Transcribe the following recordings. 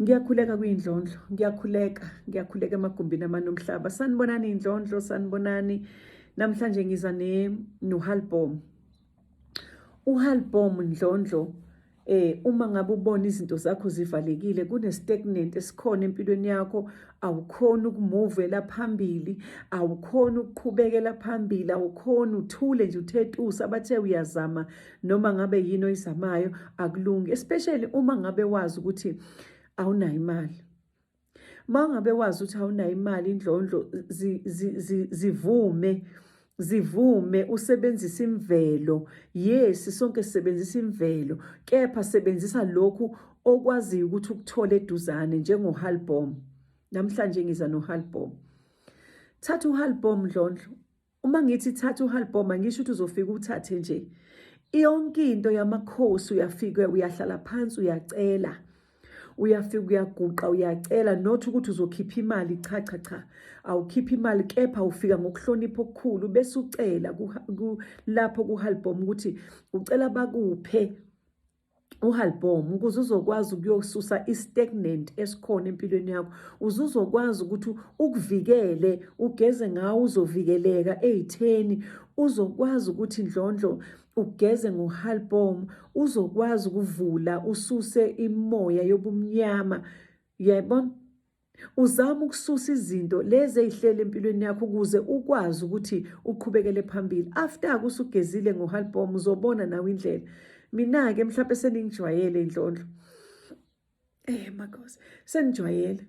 Ngiyakhuleka kuyindlondlo, ngiyakhuleka, ngiyakhuleka emagumbini amane omhlaba. Sanibonani indlondlo, sanibonani. Namhlanje ngiza ne nohalbom. Uhalbom ndlondlo eh uma ngabe ubona izinto zakho zivalekile kune stagnant esikhona empilweni yakho awukhona ukumuvela phambili awukhona ukuqhubekela phambili awukhona uthule nje uthetusa bathe uyazama noma ngabe yini oyizamayo akulungi especially uma ngabe wazi ukuthi awunayo imali uma ngabe wazi ukuthi awunayo imali indlondlo zivume zi, zi, zi zivume usebenzisa imvelo yes sonke sisebenzisa imvelo kepha sebenzisa lokhu okwaziyo ukuthi ukuthole eduzane njengohalbom namhlanje ngiza nohalbom thatha uhalbom ndlondlo uma ngithi thatha uhalbhoma ngisho ukuthi uzofika uthathe nje yonke into yamakhosi uyafika uyahlala phansi uyacela uyafika uyaguqa uyacela not ukuthi uzokhipha imali cha cha cha awukhipha imali kepha ufika ngokuhlonipha okukhulu bese ucela lapho kuhalbhoma ukuthi ucela bakuphe uhalbom ukuze uzokwazi ukuyosusa i-stagnant esikhona empilweni yakho uze uzokwazi ukuthi ukuvikele ugeze ngawo uzovikeleka ey'theni uzokwazi ukuthi ndlondlo ugeze ngohalbom uzokwazi ukuvula ususe imoya yobumnyama yebo Uzama ukususa izinto lezi ezihlele empilweni yakho ukuze ukwazi ukuthi uqhubekele phambili. After kusugezile ngohalbom uzobona nawe indlela. Mina-ke mhlawumbe seningijwayele inhlonhlo. Eh makhosi, senijwayele.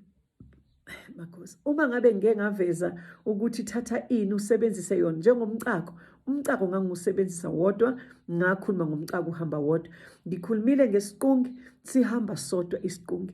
Eh, makhosi, uma ngabe ngike ngaveza ukuthi thatha ini usebenzise yona njengomcako, umcako ngangiwusebenzisa wodwa, ngakhuluma ngomcako uhamba wodwa. Ngikhulumile ngesiqungi, sihamba sodwa isiqungi.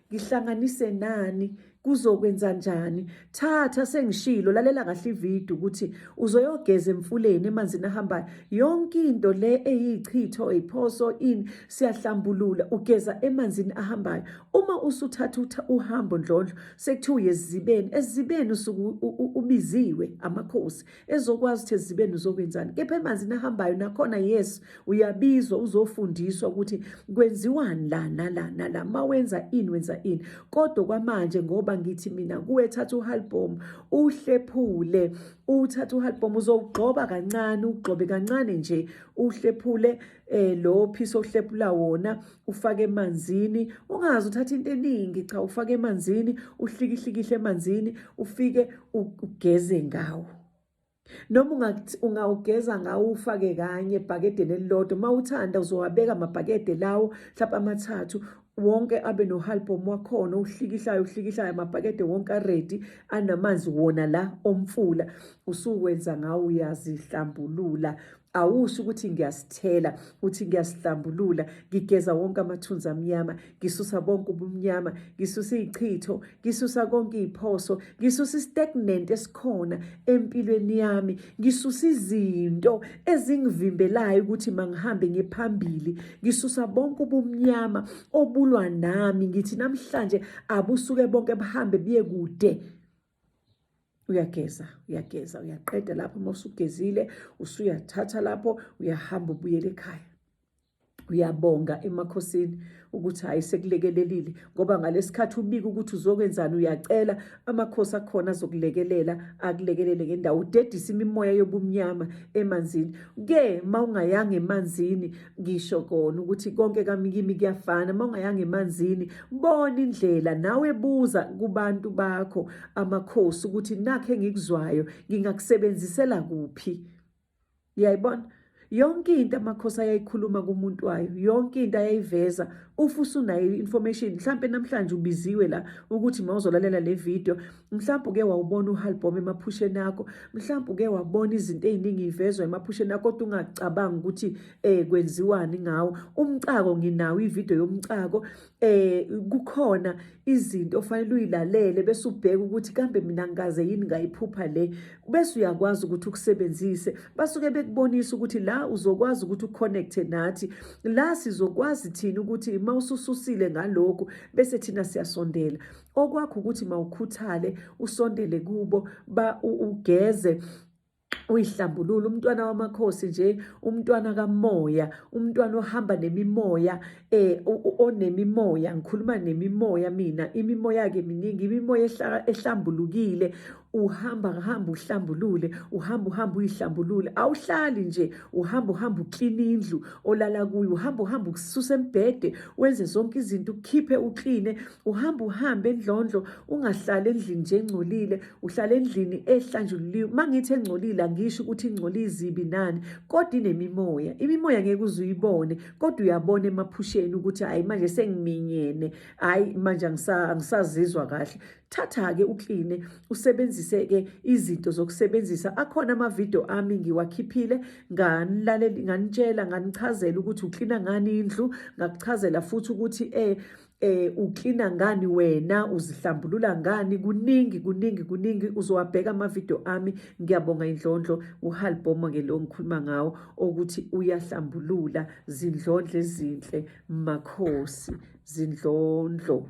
ngihlanganise nani kuzokwenza njani thatha sengishilo lalela kahle ivideo ukuthi uzoyogeza emfuleni emanzini ahambayo yonke into le eyichitho iphoso in siyahlambulula ugeza emanzini ahambayo uma usuthatha uhambo ndlondlo sekuthiwa uyezibeni ezibeni usuku ubiziwe amakhosi ezokwazi ukuthi ezibeni uzokwenzani kepha emanzini ahambayo nakhona yes uyabizwa uzofundiswa ukuthi kwenziwani la nala nala ma wenza ini wenza ini kodwa kwamanje ngoba ngithi mina kuwe thatha uhalbom uhlephule uthatha uhalbom uzowugxoba kancane ugxobe kancane nje uhlephule eh lo piece ohlepula wona ufake emanzini ungazi uthatha into eningi cha ufake emanzini uhlikihlikihle emanzini ufike ugeze ngawo noma ungawugeza ngawo ufake kanye ebhakedeni elilodwa uma uthanda uzowabeka amabhakede lawo mhlawumbe amathathu wonke abe nohalbum wakhona uhlikihlayo uhlikihlayo amabhakede wonke aredi anamanzi wona la omfula usuwenza ngawo uyazihlambulula awusho ukuthi ngiyasithela uthi ngiyasihlambulula ngigeza wonke amathunzi amnyama ngisusa bonke ubumnyama ngisusa izichitho ngisusa konke iziphoso ngisusa istagnant esikhona empilweni yami ngisusa izinto ezingivimbelayo ukuthi mangihambe ngiphambili ngisusa bonke ubumnyama obulwa nami ngithi namhlanje abusuke bonke buhambe biye kude uyageza uyageza uyaqeda lapho uma usugezile usuyathatha lapho uyahamba ubuyele ekhaya uyabonga emakhosini ukuthi hayi sekulekelelile ngoba ngalesikhathi ubika ukuthi uzokwenzani uyacela amakhosi akhona azokulekelela akulekelele ngendawo udedisa imimoya yobumnyama emanzini ke mawungayanga emanzini ngisho kona ukuthi konke kami kimi kuyafana uma ungayanga emanzini bona indlela nawe buza kubantu bakho amakhosi ukuthi nakhe ngikuzwayo ngingakusebenzisela kuphi yayibona yonke into amakhosi ayayikhuluma kumuntu wayo yonke into ayayiveza ufusa unayo information mhlambe namhlanje ubiziwe la ukuthi mawuzolalela le video mhlawumbe uke wawubona uhalbhoma emaphusheni akho mhlawumbe uke wabona izinto ey'ningi ivezwa emaphusheni akho kodwa ungacabangi ukuthi um kwenziwani ngawo umcako nginawo ividiyo yomcako um kukhona izinto ofanele uyilalele bese ubheke ukuthi kambe mina ngikaze yini ngayiphupha le bese uyakwazi ukuthi ukusebenzise basuke bekubonisa ukuthi la uzokwazi ukuthi uconnecte nathi la sizokwazi thina ukuthi uma usususile ngalokhu bese thina siyasondela okwakho ukuthi mawukhuthale usondele kubo ba ugeze uyihlambulula umntwana wamakhosi nje umntwana kamoya umntwana ohamba nemimoya eh onemimoya ngikhuluma nemimoya mina imimoya ke miningi imimoya ehlambulukile uhamba ngihamba uhlambulule uhamba uhamba uyihlambulule awuhlali nje uhamba uhamba uklina indlu olala kuyo uhamba uhamba ukususa embhede wenze zonke izinto ukhiphe ukline uhamba uhambe endlondlo ungahlali endlini nje engcolile uhlala endlini ehlanjululiwe mangithi engcolile angisho ukuthi ingcoli izibi nani kodwa inemimoya imimoya ngeke uze uyibone kodwa uyabona emaphusheni ukuthi hayi manje sengiminyene hayi manje angisazizwa kahle thatha-ke ukline usebenzise-ke izinto zokusebenzisa akhona amavidiyo ami ngiwakhiphile nganitshela nganichazela ukuthi uklina ngani indlu ngakuchazela futhi ukuthi um eh uklina ngani wena uzihlambulula ngani kuningi kuningi kuningi uzowabheka amavidiyo ami ngiyabonga indlondlo uhalbomo ke lo ngikhuluma ngawo ukuthi uyahlambulula zindlondle ezinhle makhosi zindlondlo